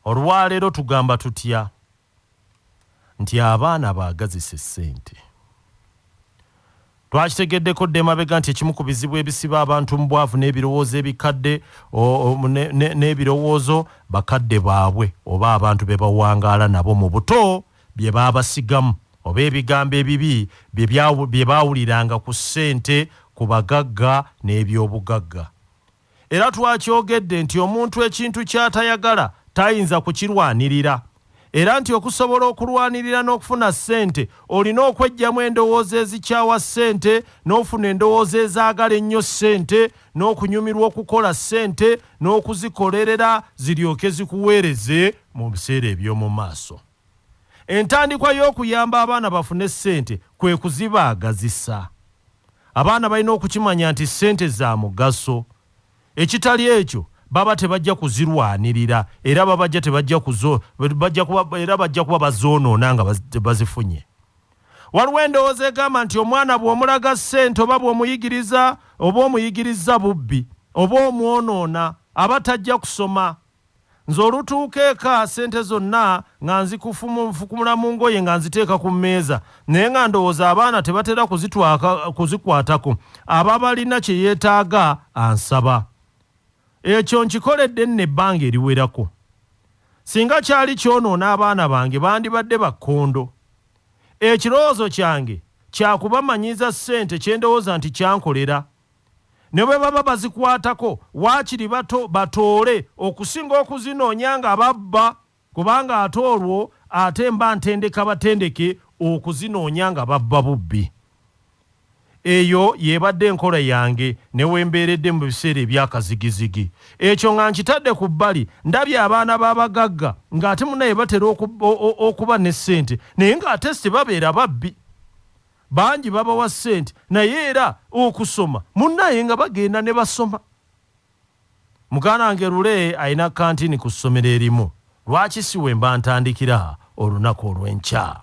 Olwaleero tugamba tutya nti abaana baagazisa essente? Twakitegeddeko dda emabega nti ekimu ku bizibu ebisiba abantu mu bwavu n'ebirowoozo ebikadde n'ebirowoozo bakadde baabwe oba abantu be bawangaala nabo mu buto bye baabasigamu oba ebigambo ebibi bye baawuliranga ku ssente ku bagagga n'ebyobugagga. Era twakyogedde nti omuntu ekintu ky'atayagala tayinza kukirwanirira era nti okusobola okulwanirira n'okufuna ssente olina okweggyamu endowooza ezikyawa ssente n'ofuna endowooza ezaagala ennyo ssente n'okunyumirwa okukola ssente n'okuzikolerera ziryoke zikuweereze mu biseera eby'omu maaso. Entandikwa y'okuyamba abaana bafune ssente kwe kuzibaagazisa. Abaana balina okukimanya nti ssente za mugaso. Ekitali ekyo baba tebajja kuzirwanirira era babajja tebajja kuzo bajja kuba era bajja kuba bazoonoona nga bazifunye. Waliwo endowooza egamba nti omwana bw'omulaga ssente oba bw'omuyigiriza oba omuyigirizza bubbi oba omwonoona aba tajja kusoma. Nze olutuuka eka ssente zonna nga nzikufukumula mu ngoye nga nziteeka ku mmeeza naye nga ndowooza abaana tebatera kuzikwatako aba balina kye yeetaaga ansaba. Ekyo nkikoledde nno ebbanga eriwerako. Singa kyali kyonoona abaana bange bandibadde ba kkondo. Ekirowoozo kyange kya kubamanyiiza ssente kye ndowooza nti kyankolera. ne bwe baba bazikwatako waakiri bato batoole okusinga okuzinoonya nga babba kubanga ate olwo ate mba ntendeka batendeke okuzinoonya nga babba bubbi. Eyo y'ebadde enkola yange ne we mbeeredde mu biseera ebyakazigizigi. Ekyo nga nkitadde ku bbali, ndabye abaana b'abagagga ng'ate munaye batera okuba ne ssente naye ng'ate tebabeera babbi. Bangi babawa ssente naye era okusoma munnaye nga bagenda ne basoma. Mukaanange Lule alina kantini ku ssomero erimu. Lwaki si we mba ntandikira olunaku olw'enkya?